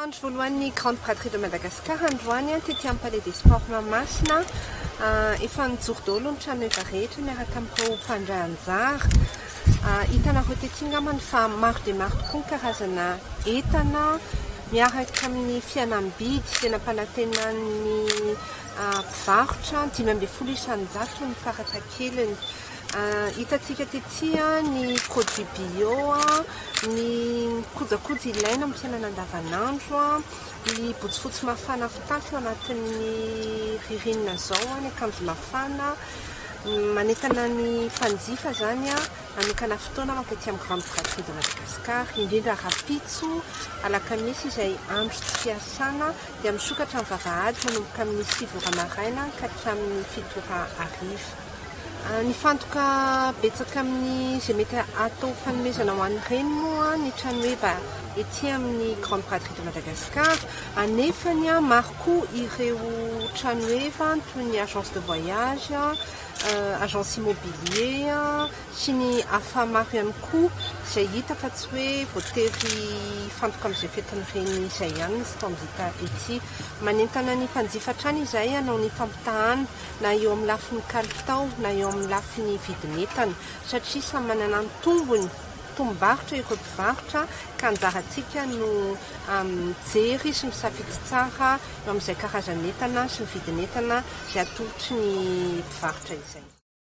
Andro voalohan'ny Grande Braderie de Madagascar androany tety amin'ny Palais des Sports Mahamasina. Efa nijoro daholo ny tranoheva rehetra miaraka amin'ireo mpandray anjara. Hitanareo tety angambany fa maro dia maro tokoa ny karazana entana miaraka amin'ny fihenam-bidy izay nampanantenan'ny mpivarotra, dimy ambin'ny folo isan-jato ny faratakeliny. Hitantsika tetsy ny produits bio, ny kojakoja ilaina amin'ny fiainana andavanandro, ny botsifotsy mafana fitafy ao anatin'ny ririnina izao, ny akanjo mafana, manentana ny mpanjifa izany hanokana fotoana mankatỳ amin'ny grande brasserie de Madagascar, indrindra rahampitso, alakamisy izay andro tsy fiasana, dia misokatra ny vavahady manomboka amin'ny sivy ora maraina ka hatramin'ny fito ora hariva. Nifantoka betsaka amin'ny izay mety hatao fanomezana ho an'ny reny moa ny trano heva ety amin'ny Grande Braderie de Madagascar, anefany maro koa ireo trano heva toy ny agence de voyage, agence immobilier sy ny hafa maro ihany koa izay hita fa tsy hoe voatery hifantoka amin'izay fetin'ny reny izay ihany ny stand hita ety. Manentana ny mpanjifa hatrany izahay hanao ny fampitahana. na eo amin'ny lafiny kalitao na eo amin'ny lafiny vidin'entana satria samy manana ny tombony, tombom-barotra ireo mpivarotra ka anjarantsika no mijery sy misafidy tsara eo amin'izay karazan'entana sy ny vidin'entana izay atolotry ny mpivarotra izay.